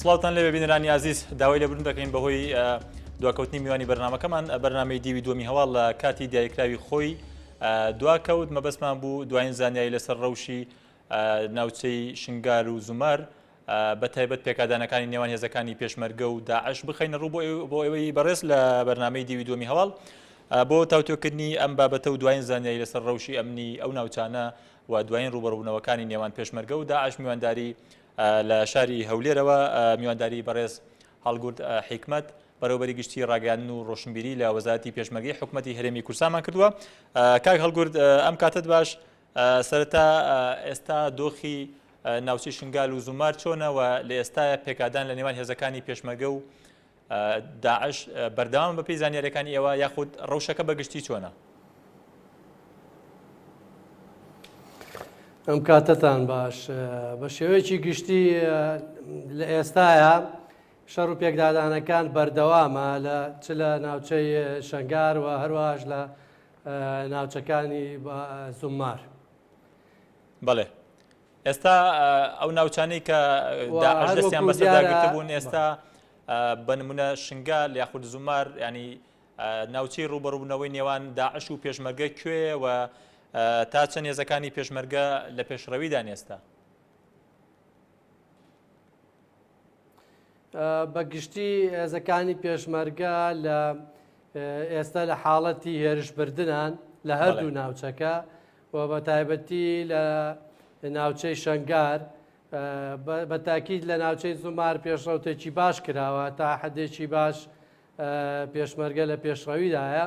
سڵاوان لەوێ بینرانی عزیز داوای لەبرن دەکەین بەهۆی دواکەوتنی میوانی بەرنمەکەمان بەرنمەی دیوی دومی هەواڵ لە کاتی دیاریکراوی خۆی دواکەوت مەبەستمان بوو دوایین زانیایی لەسەر ڕەوشی ناوچەی شنگار و زومار بە تایبەت پێکدانەکانی نێوان هێزەکانی پێشمەرگە و داعش بخینە ڕوو بۆ ئەوەی بەڕێز لە بەرنمەی دیوی دومی هەواڵ بۆ تاوتۆکردنی ئەم بابەتە و دوایین زانیایی لەسەر ڕەوشی ئەمنی ئەو ناوچانە و دوایین ڕووبەڕووبوونەوەکانی نێوان پێشمەرگە و داعش میوانداری لە شاری هەولێرەوە میوانداری بەڕێز هەڵگورد حیکمەت بەرەوبەری گشتی ڕاگەاندن و ڕۆشنبیری لە وەزارتی پێشمەرگی حکوومەتتی هەرێمی کورسامان کردووە کاک هەڵگورد ئەم کاتت باش سەرتا ئێستا دۆخی ناوچی شنگال و زومار چۆنەوە لە ئێستاە پێکدان لە نێوان هێزەکانی پێشمەگە و داعش بەردەوامە بە پێی زانیاریەکانی ئێوە یاخود ڕەوشەکە بەگشتی چۆنە؟ ئەم کاتتان باش بە شێوەیەکی گشتی لە ئێستاە شەڕ و پێکدادانەکان بەردەوامە لە چ لە ناوچەی شنگار و هەروەهاش لە ناوچەکانی زمار. بەڵێ ئێستا ئەو ناوچانەی کە داعش دەستیان بەسەردا گرتبوون ئێستا بە نمونە شنگال یاخود زومار ینی ناوچەی ڕوبەڕوبنەوەی نێوان داعش و پێشمەرگە کوێ و تا چەند هێزەکانی پێشمەرگە لە پێشڕەویدان ئێستا بەگشتی هێزەکانی پێشمەرگە لە ئێستا لە حاڵەتی هێرشبردنان لە هەردوو ناوچەکە و بە تایبەتی لە ناوچەی شنگار بە تاکیید لە ناوچەی زمار پێشڕوتێکی باش کراوە تا حدێکی باش پێشمەرگە لە پێشڕەویدایە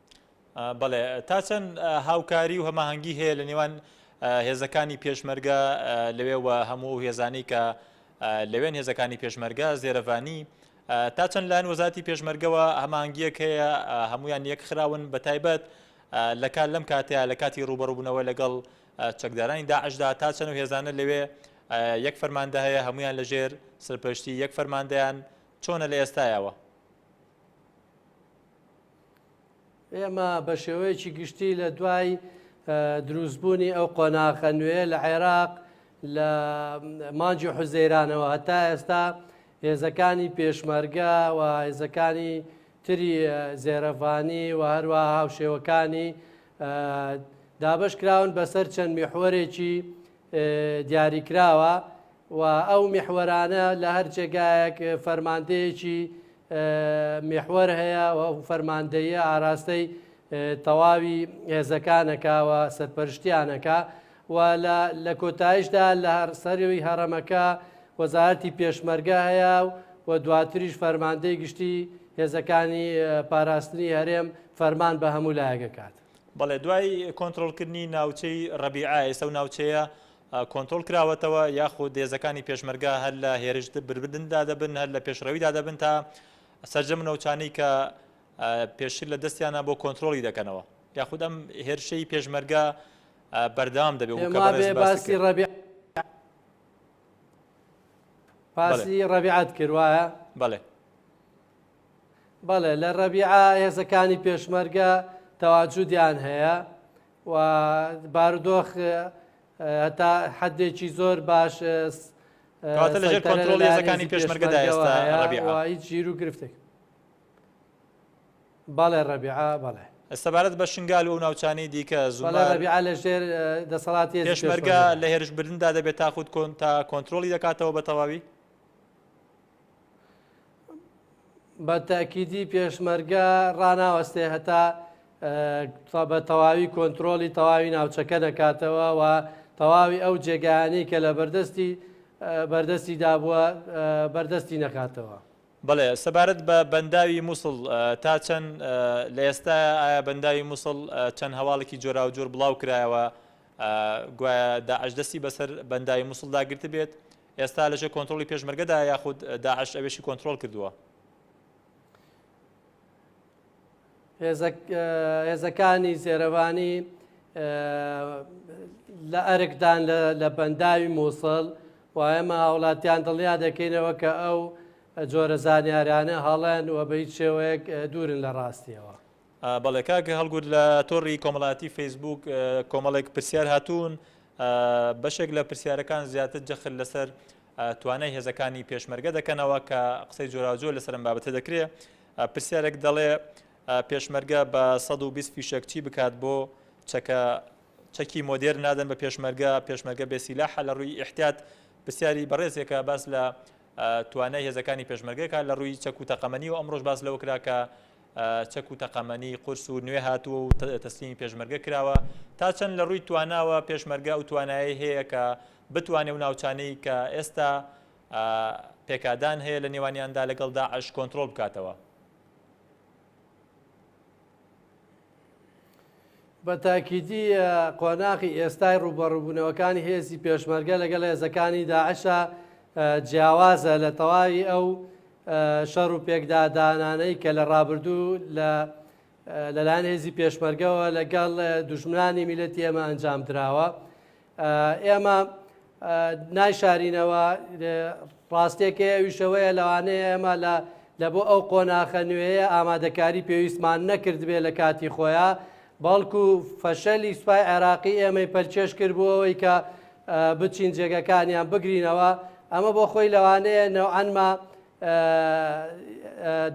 بەڵێ، تا چەند هاوکاری و هەماهەنگی هەیە لە نێوان هێزەکانی پێشمەرگە لەوێ و هەموو ئەو هێزانەی کە لەوێن هێزەکانی پێشمەرگە زێرەڤانی تا چەند لایەن وەزاتی پێشمەرگەوە هەمانگیەک هەیە هەمویان یەک خراون بە تایبەت لە کار لەم کاتەیە لە کاتی ڕوبەڕبوونەوە لەگەڵ چەکدارانی داعشدا تا چەند و هێزانە لەوێ یەک فەرماندە هەیە هەمویان لەژێر سەرپشتی یەک فەرماندەیان چۆنە لە ئێستایەوە ئێمە بە شێوەیەکی گشتی لە دوای دروستبوونی ئەو قۆناخە نوێ لە عێراق لە مانجی حوزەیرانەوە هەتا ئێستا هێزەکانی پێشمەرگە و هێزەکانی تری زێرەڤانی و هەروە هاوشێوەکانی دابش کراون بەسەر چەند میحوەرێکی دیاریکراوە و ئەو میحوەرانە لە هەر جێگایەک فەرماندەیەکی میحوەر هەیە و ئەو فەرماندەیە ئاراستەی تەواوی هێزەکانەکە و سەرپەرشتیانەکە و لە کۆتایشدا لە هەرسەروی هەڕەمەکە وەزارەتی پێشمەرگە هەیە و و دواتریش فەرماندەی گشتی هێزەکانی پاراستنی هەرێم فەرمان بە هەموو لایەکەکات. بەڵێ دوای کۆنترۆڵکردنی ناوچەی ڕەبیعە ئێستا و ناوچەیە کۆنتترۆل کراوەتەوە یاخود دێزەکانی پێشمەرگا هەر لە هێرش بربدندا دەبن هەر لە پێشڕەویدا دەبن تا سرجەم نەوچانی کە پێشتر لە دەستیانە بۆ کۆنتترۆلی دەکەنەوە یاخود ئەم هێرشەی پێشمەرگا بەردام دەبێت باسی ڕەبی باسی ڕەبیعات کرد وایە بەڵێ بەڵێ لە ڕەبیعە هێزەکانی پێشمەرگە تەواجودیان هەیە و بارودۆخ هەتا حدێکی زۆر باش لەژێر کۆنترۆڵ هێزەکانی پێشمەرگەدا ئێستا ڕەبیعە هیچ ژیر و گرفتێک بەڵێ ڕەبیعە بەڵێ سەبارەت بە شنگال و ناوچانی دیکە زوڵبیا لە ژێر دەسەڵاتی پێشمەرگە لە هێرشبردندا دەبێت تاخود کۆن تا کۆنتترۆلی دەکاتەوە بە تەواوی بە تاکیدی پێشمەرگە ڕناوەستێ هەتا بە تەواوی کۆنتترۆلی تەواوی ناوچەکە دەکاتەوە و تەواوی ئەو جێگانی کە لە بەردەستی بەردەستی دابووە بەردەستی نەکاتەوە. بەڵێ سەبارەت بە بەنداوی مووسڵ تا چەند لە ئێستا ئایا بەنداوی مووسڵ چەند هەواڵێکی جۆراوجۆر بڵاو کرایەوە گوایە داعش دەستی بەسەر بەنداوی مووسڵدا گرتبێت ئێستا لەژێر کۆنترۆڵی پێشمەرگەدایە یاخود داعش ئەوێشی کۆنترۆڵ کردووە؟ هێزەکانی زێرەڤانی لە ئەرکدان لە بەنداوی مووسڵ و ئێمە هاوڵاتیان دڵنیا دەکەینەوە کە ئەو جۆرە زانیارانە هەڵەن و بە هیچ شێوەیەک دوورن لە ڕاستیەوە. بەڵێ کاک هەڵگورد لە تۆڕی کۆمەڵاتی فەیسبووک کۆمەڵێک پرسیار هاتوون بەشێک لە پرسیارەکان زیاتر جەخل لەسەر توانای هێزەکانی پێشمەرگە دەکەنەوە کە قسەی جۆراوجۆ لەسەرم بابەتە دەکرێت پرسیارێک دەڵێ پێشمەرگە بە 120 فیشەک چی بکات بۆ چەکە چەکی مۆدێر نادەن بە پێشمەرگە پێشمەرگە بێسیلاحە لە ڕووی احتیات پرسیاری بەڕێزێکە باس لە توانای هێزەکانی پێشمەرگەکە لە ڕووی چەک و تەقەمەنی و ئەمڕۆژ باس لەوە کراکە چەک و تەقەمەنی قورس و نوێ هاتووە و تەسلیمی پێشمەرگە کراوە تا چەند لە ڕووی تواناوە پێشمەرگە ئەو توانایی هەیە کە بتوانێ و ناوچانەی کە ئێستا پێکدان هەیە لە نێوانیاندا لەگەڵ داعش کۆنتترۆل بکاتەوە. بە تاکیدی قۆناخی ئێستای ڕوبەڕوبوونەوەکانی هێزی پێشمەرگە لەگەڵ هێزەکانی داعشە جیاوازە لە تەواوی ئەو شەڕ و پێکدادانانەی کە لە ڕابردوو لە لەلاەن هێزی پێشمەرگەوە لەگەڵ دژمنانی میلەتی ئەمە ئەنجام دراوە ئێمە نایشارینەوە، ڕاستییەک هەیە ئەویش ئەوەیە لەوانەیە ئێمە لە بۆ ئەو قۆناخە نوێیە ئامادەکاری پێویستمان نەکردبێت لە کاتی خۆیا، بەڵکو فەشەلی سوپای عێراقی ئێمەی پەلکێش کرد بۆ ئەوەی کە بچین جێگەکانیان بگرینەوە، ئەمە بۆ خۆی لەوانەیە نەوعەنما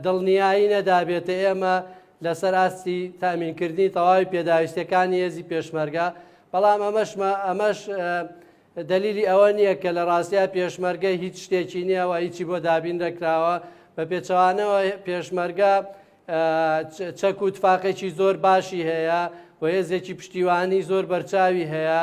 دڵنیایی نەدابێت ئێمە لەسەر ئاستی تامینکردنی تەواوی پێداویستەکانی هێزی پێشمەرگە بەڵام ئەمەشمە ئەمەش دلیلی ئەوە نییە کە لە ڕاستیا پێشمەرگە هیچ شتێکی نییە و هیچی بۆ دابین دەکراوە بە پێچەوانەوە پێشمەرگە چەک و تفاقێکی زۆر باشی هەیە و هێزێکی پشتیوانی زۆر بەرچاوی هەیە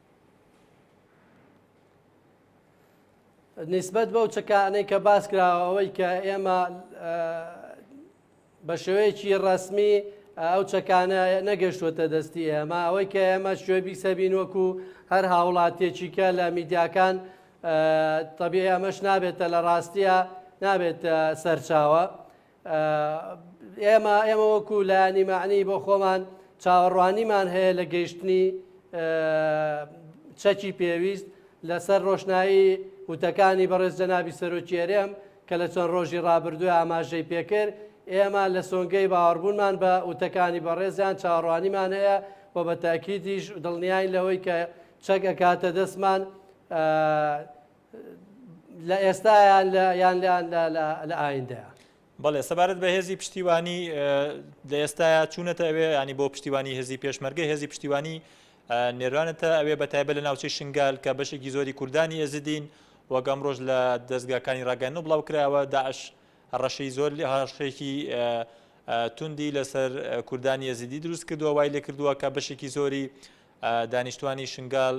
نسبەت بەو چەکانەی کە باس کراوە ئەوەی کە ئێمە بە شێوەیەکی ڕسمی ئەو چەکانە نەگەشتوەتە دەستی ئێمە ئەوەی کە ئێمە شوێ بیسەبین وەکو هەر هاوڵاتێکی کە لە میدیاکان طبیعی ئەمەش نابێتە لە ڕاستیە نابێت سەرچاوە ئێمە ئێمە وەکو لایەنی معنی بۆ خۆمان چاوەڕوانیمان هەیە لە گەیشتنی چەکی پێویست لەسەر ڕۆشنایی وتەکانی بەڕێز جەنابی سەرۆکیێرێم کە لە چەند ڕۆژی ڕابردوو ئاماژەی پێکرد ئێمە لە سۆنگەی باوەڕبوونمان بە وتەکانی بەڕێزیان چاڕوانیمان هەیە و بە تاکیدیش دڵنیای لەوەی کە چەک ئەکاتە دەستمان لە ئێستایا یان لە ئایندەیە. بەڵێ سەبارەت بە هێزی پشتیوانی لە ئێستایا چوونەتە ئەوێ ینی بۆ پشتیوانی هێزی پێشمەرگە هێزی پشتیوانی نێرانەتە ئەوێ بە تایبە لە ناوچەی شنگال کە بەشێکی زۆری کوردانی ئێزدین وەگەم ڕۆژ لە دەستگاکانی ڕاگەن و بڵاو کراوە داعش ڕەشەی زۆر لە هاشێکی توندی لەسەر کوردانی ئێزیدی دروست کردووە وای لێ کردووە کە بەشێکی زۆری دانیشتوانی شنگال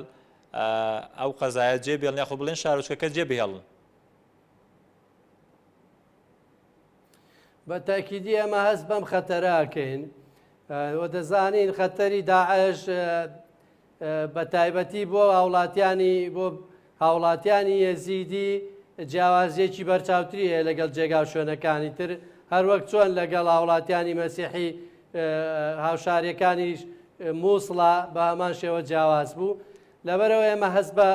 ئەو قەزایە جێ بێڵن یاخۆ بڵێن شارۆچکەکە جێ بهێڵن. بە تاکیدی ئەمە هەست بەم خەتەراکەین وە دەزانین خەتەری داعش بە تایبەتی بۆ هاوڵاتیانی بۆ هاوڵاتیانی یەزیدی جیاوازیەکی بەرچاوتری هەیە لەگەڵ جێگا و شوێنەکانی تر هەروەک چۆن لەگەڵ هاوڵاتیانی مەسیحی هاوشاریەکانیش موسڵ بە هەمان شێوە جیاواز بوو لەبەرەوە ئێمە هەست بە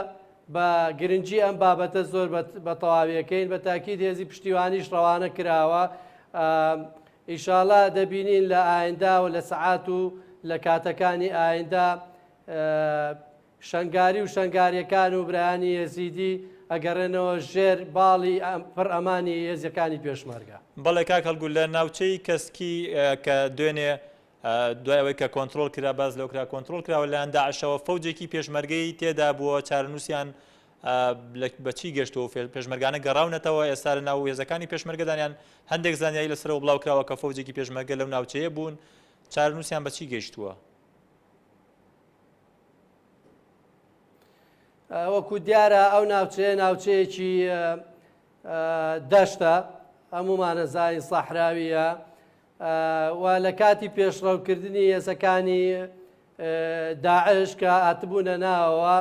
بە گرنگی ئەم بابەتە زۆر بە تەواویەکەین بە تاکیید هێزی پشتیوانیش ڕەوانە کراوە ئیشاڵا دەبینین لە ئاینداوە لە سەعات و لە کاتەکانی ئایندا شەنگاری و شەنگاریەکان و برایانی یەزیدی ئەگەڕێنەوە ژێر باڵی پڕ ئەمانی هێزەکانی پێشمەرگە. بەڵێ کاک هەڵگوور لە ناوچەی کەسکی کە دوێنێ دوای ئەوەی کە کۆنترۆڵ کرا باس لەوە کرا کۆنترۆڵ کراوە لەلایەن داعشەوە فەوجێکی پێشمەرگەی تێدا بووە چارەنووسیان بە چی گەشتەوە و پێشمەرگانە گەڕاونەتەوە ئێستا لە ناو هێزەکانی پێشمەرگەدانیان هەندێک زانیاری لەسەرەوە بڵاو کراوە کە فەوجێکی پێشمەرگە لەو ناوچەیە بوون چارەنووسیان بە چی گەشتووە وەکو دیارە ئەو ناوچەیە ناوچەیەکی دەشتە هەمومانە زانین سەحراویە و لە کاتی پێشڕەوکردنی هێزەکانی داعش کە ئاتبوونە ناوەوە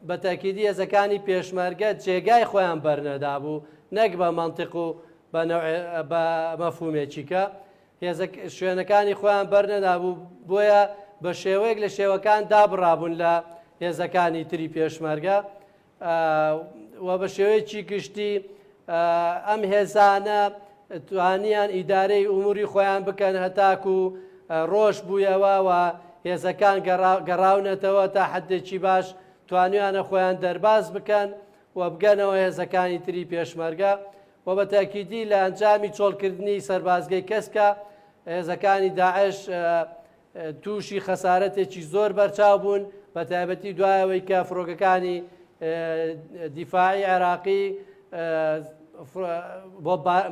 بەتەکیدی هێزەکانی پێشمەرگە جێگای خۆیان بەرنەدا بوو نەک بە مەنتق و بە مەفهومێکیکە هێزە شوێنەکانی خۆیان بەرنەدابوو بۆیە بە شێوەیەک لە شێوەکان دابڕابوون لە هێزەکانی تری پێشمەرگە و بە شێوەیەکی گشتی ئەم هێزانە توانیان ئیدارەی ئوموری خۆیان بکەن هەتاک و ڕۆژ بوویەوە و هێزەکان گەڕاونەتەوە تا حدێکی باش توانیانە خۆیان دەرباز بکەن و بگەنەوە هێزەکانی تری پێشمەرگە و بە تەئکیدی لە ئەنجامی چۆڵکردنی سەربازگەی کەسکە هێزەکانی داعش تووشی خەسارەتێکی زۆر بەرچاو بوون بە تایبەتی دوای ئەوەی کە فڕۆکەکانی دیفاعی عێراقی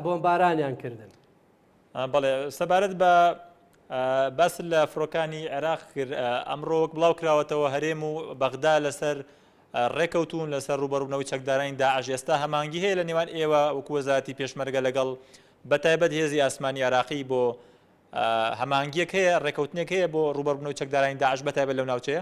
بۆمبارانیان کردن. بەڵێ سەبارەت بە باس لە فڕۆکانی عێراق کرد ئەمڕۆ وەک بڵاو کراوەتەوە هەرێم و بەغدا لەسەر ڕێکەوتون لەسەر ڕوبەرونەوەی چەکدارانی داعش ئێستا هەمانگی هەیە لە نێوان ئێوە وکوەزاتی پێشمەرگە لەگەڵ بە تایبەت هێزی ئاسمانی عراقی بۆ هەمانگیەک هەیە ڕێکەوتنێک هەیە بۆ ڕوبەربنەوە چەکدارانی داعش بە تایبەت لەو ناوچەیە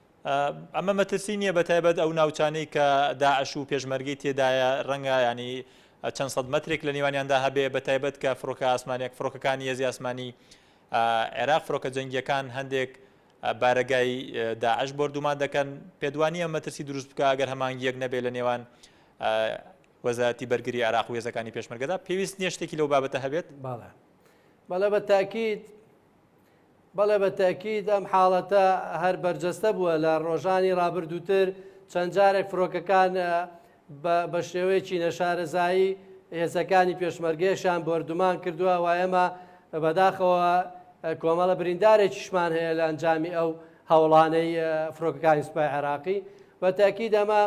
ئەمە مەترسی نییە بە تایبەت ئەو ناوچانەی کە داعش و پێشمەرگەی تێدایە ڕەنگە ینی چەند سەد مەترێک لە نێوانیاندا هەبێ بە تایبەت کە فڕۆکە ئاسمانێک فڕۆکەکانی هێزی ئاسمانی عێراق فڕۆکە جەنگیەکان هەندێک بارەگای داعش بردومان دەکەن پێدوانیە مەترسی دروست بکە ئەگەر هەمانگیەک نەبێ لە نێوان وەزارەتی بەرگری عراق و هێزەکانی پێشمەرگەدا پێویست نیە شتێکی لەو بابەتە هەبێت باڵە باڵە بە تاکیت بەڵێ بە تەئکید ئەم حاڵەتە هەر بەرجەستە بووە لە ڕۆژانی ڕابردووتر چەند جارێک فڕۆکەکان بە شێوەیەکی نەشارەزایی هێزەکانی پێشمەرگەیەشان بۆردومان کردووە و ئێمە بەداخەوە کۆمەڵە بریندارێکیشمان هەیە لە ئەنجامی ئەو هەوڵانەی فڕۆکەکانی سوپای عێراقی بە تاکی دەمە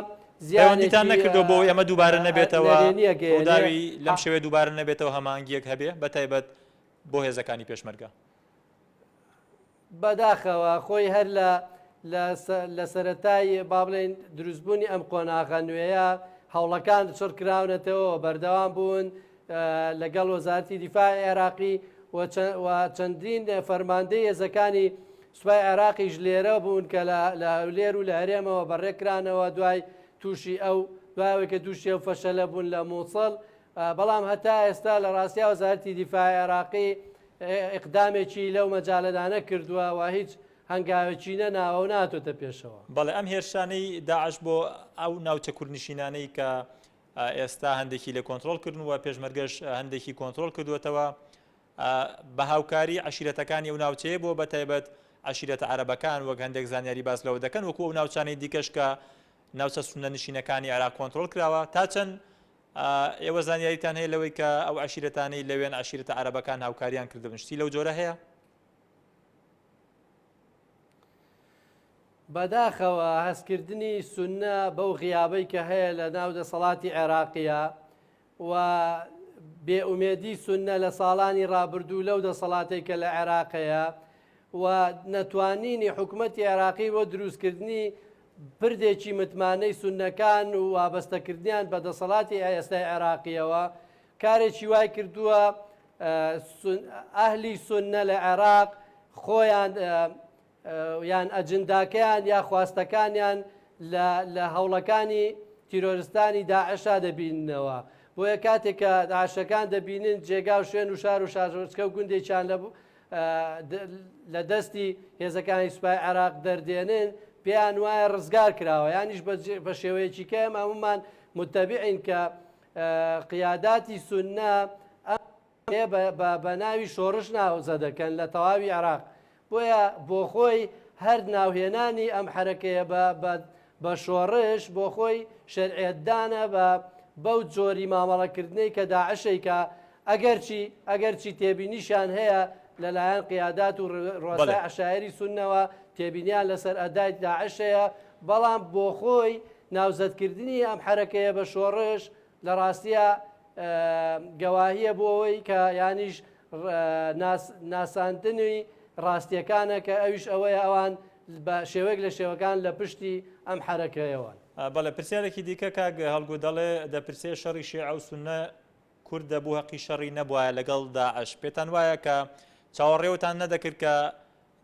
زیانتان نەکردو بۆ ئێمە دووبارە نەبێتەوە داوی لەم شوێ دووبارە نەبێتەوە هەمانگیەک هەبێ بە تایبەت بۆ هێزەکانی پێشمەرگە. بەداخەوە خۆی هەر لە لە سەرەتای با بڵێن دروستبوونی ئەم قۆناغە نوێیە هەوڵەکان چڕ کراونەتەوە بەردەوام بوون لەگەڵ وەزارتی دیفاع عێراقی و چەندین فەرماندەی هێزەکانی سوپای عێراقیش لێرە بوون کە لە هەولێر و لە هەرێمەوە بەڕێکرانەوە دوای تووشی ئەو دوایەوەی کە دووشی ئەو فەشەلە بوون لە مووسڵ بەڵام هەتا ئێستا لە ڕاستیا وەزارەتی دیفاعی عێراقی ئیقدامێکی لەو مەجالەدا نەکردووە و هیچ هەنگاوێکی نەناوە و نەهاتۆتە پێشەوە. بەڵێ ئەم هێرشانەی داعش بۆ ئەو ناوچە کوردنشینانەی کە ئێستا هەندێکی لێ کۆنترۆڵ کردن و پێشمەرگەش هەندێکی کۆنترۆڵ کردوێتەوە بە هاوکاری عشیرەتەکانی ئەو ناوچەیە بۆ بە تایبەت عشیرەتە عربەکان وەک هەندێک زانیاری باس لەوە دەکەن وەکو ئەو ناوچانەی دیکەش کە ناوچە سونە نشینەکانی عێراق کۆنتترۆل کراوە تا چەند ئێوە زانیاریتان هەیە لەوەی کە ئەو عەشیرەتانەی لەوێن عەشیرەتە عەرەبەکان هاوکاریان کردبن شتی لەو جۆرە هەیە؟ بەداخەوە هەستکردنی سنە بەو غیابەی کە هەیە لە ناو دەسەڵاتی عێراقیە و بێئومێدی سنە لە ساڵانی ڕابردوو لەو دەسەڵاتێک کە لە عێراقەیە و نەتوانینی حکوومەتتی عێراقی بۆ دروستکردنی پردێکی متمانەی سوننەکان و وابەستەکردنیان بە دەسەڵاتی ئێستای عێراقییەوە، کارێکی وای کردووە ئەهلی سوننە لە عێراق خۆیان یان ئەجنداکەیان یا خواستەکانیان لە هەوڵەکانی تیرۆرستانی داعشا دەبیننەوە. بۆیە کاتێک کە داعشەکان دەبینن جێگا و شوێن و شار و شارۆچکە و گوندێکیان لە دەستی هێزەکانی سوپای عێراق دەردێنن پێیان وایە ڕزگار کراوە یانیش بە شێوەیەکی کە ئەمە هەمومان متتەبیعین کە قیاداتی سنە بە ناوی شۆڕش ناوزە دەکەن لە تەواوی عراق بۆیە بۆ خۆی هەر ناوهێنانی ئەم حرەکەیە بە بە شۆڕش بۆ خۆی شەرعیەت دانە بە بەو جۆری مامەڵە کردنەی کە داعش ئەیکا ئەگەرچی ئەگەرچی تێبینیشیان هەیە لە لایەن قیادات و ڕوئسای عەشایەری سوننەوە تێبینیان لە سەر ئەدای داعش هەیە بەڵام بۆ خۆی ناوزەد کردنی ئەم حەرەکەیە بە شۆڕش لە ڕاستیا گەواهیە بۆ ئەوەی کە یانیش ناساندنی ڕاستیەکانە کە ئەویش ئەوەیە ئەوان بە شێوەیەک لە شێوەکان لە پشتی ئەم حەرەکەیەوەن. بەڵێ پرسیارێکی دیکە کاک هەڵگو دەڵێ دەپرسێ شەڕی شێعە و سوننە کورد دەبوو هەقی شەڕی نەبوایە لەگەڵ داعش پێتان وایە کە چاوەڕێوتان نەدەکرد کە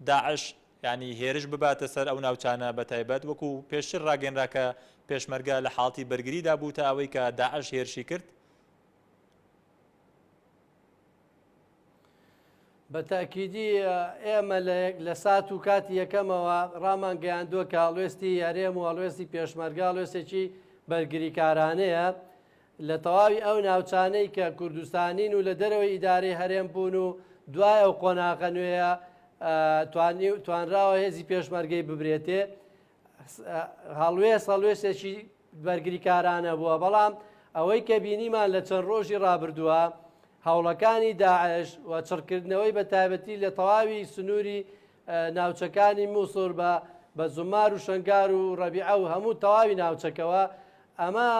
داعش یانی هێرش بباتە سەر ئەو ناوچانە بەتایبەت وەکو پێشتر ڕاگەنرا کە پێشمەرگە لە حاڵتی بەرگریدا بوو تا ئەوەی کە داعش هێرشی کرد. بە تاکیدی ئێمە لە لە سات و کاتی یەکەمەوە ڕامان گەیاندووە کە هەڵوێستی هەرێم و هەڵوێستی پێشمەرگە هەڵوێستێکی بەرگریکارانەیە لە تەواوی ئەو ناوچانەی کە کوردستانین و لە دەرەوەی ئیدارەی هەرێم بوون و دوای ئەو قۆناغە نوێیە توانراوە هێزی پێشمەرگەی ببرێتێ هەڵوێست هەڵوێستێکی بەرگریکارانە بووە بەڵام ئەوەی کە بینیمان لە چەند ڕۆژی ڕابردووە هەوڵەکانی داعش و چڕکردنەوەی بە تایبەتی لە تەواوی سنووری ناوچەکانی موسور بە بە زومار و شەنگار و ڕەبیعە و هەموو تەواوی ناوچەکەوە ئەمە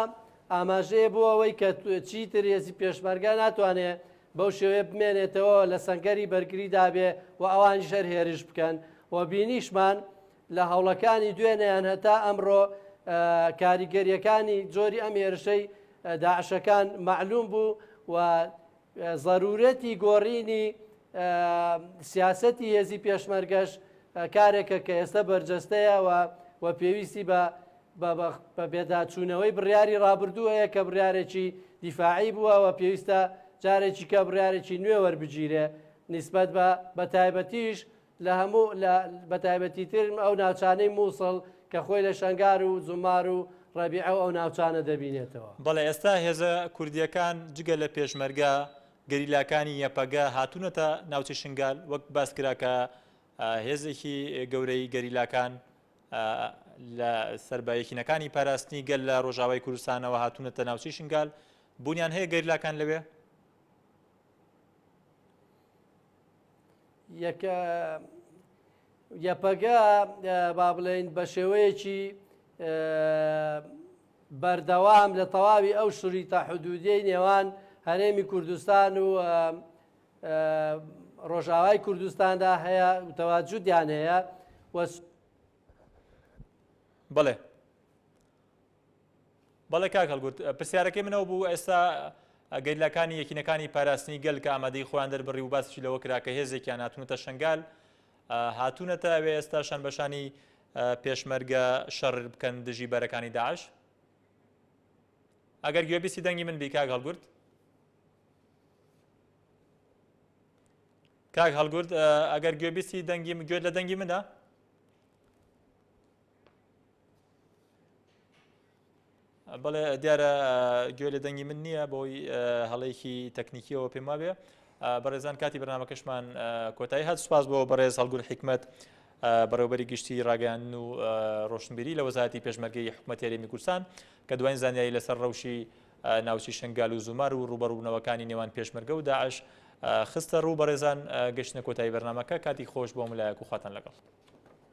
ئاماژەیە بۆ ئەوەی کە چیتر هێزی پێشمەرگە ناتوانێ بەو شێوەیە بمێنێتەوە لە سەنگەری بەرگری دابێ و ئەوانی شەر هێرش بکەن و بینیشمان لە هەوڵەکانی دوێنێیان هەتا ئەمڕۆ کاریگەریەکانی جۆری ئەم هێرشەی داعشەکان معلوم بوو و زەرورەتی گۆڕینی سیاسەتی هێزی پێشمەرگەش کارێکە کە ئێستا بەرجەستەیە و و پێویستی بە بە بێداچوونەوەی بڕیاری ڕابردوو هەیە کە بڕارێکی دیفاعی بووە و پێویستە جارێکی کە بڕارێکی نوێ وەربگیرێ نسبەت بە بە تایبەتیش لە هەموو لە بە تایبەتی تر ئەو ناوچانەی مووسڵ کە خۆی لە شەنگار و زومار و ڕەبیعە و ئەو ناوچانە دەبینێتەوە. بەڵێ ئێستا هێزە کوردییەکان جگە لە پێشمەرگە، گەریلاکانی یەپەگە هاتوونەتە ناوچەی شنگال، وەک باس کرا کە هێزێکی گەورەی گەریلاکان لە سەر بە یەکینەکانی پاراستنی گەل لە ڕۆژاوای کوردستانەوە هاتوونەتە ناوچەی شنگال، بوونیان هەیە گەریلاکان لەوێ؟ یەپەگە با بڵێین بە شێوەیەکی بەردەوام لە تەواوی ئەو شریتە حدودیەی نێوان هەرێمی کوردستان و ڕۆژاوای کوردستاندا هەیە وتەواجودیان هەیە بەڵێ بەڵێ کاک هەڵگورد پرسیارەکەی من ئەو بوو ئێستا گەریلاکانی یەکینەکانی پاراستنی گەل کە ئامادەی خۆیان دەربڕی و باسیشی لەوە کرا کە هێزێکیان هاتوونەتە شنگال هاتوونەتە ئەوێ ئێستا شان بەشانی پێشمەرگە شەڕ بکەن دژی بەرەکانی داعش ئەگەر گوێبیستی دەنگی من بی کاک هەڵگورد کاک هەڵگورد ئەگەر گوێبیستی دەنگی گوێت لە دەنگی منە بەڵێ دیارە گوێ لە دەنگی من نییە بۆی هەڵەیەکی تەکنیکیەوە پێم وابێ بەڕێزان کاتی بەنامەکەشمان کۆتایی هات سوپاس بۆ بەڕێز هەڵگول حکمت بەڕێوبەری گشتی ڕاگەیان و ڕۆشنبیری لە وەزارتی پێشمەرگەی حکوومەت یاریمی کورسان کە دوایین زانیاری لەسەر ڕەوشی ناوچی شنگال و زومار و ڕوبەڕوبنەوەکانی نێوان پێشمەرگە و داعش خستە ڕوو بەڕێزان گەشتە کۆتایی بەرنمەکە کاتی خۆش بۆ ملایەک و خواتان لەگەڵ.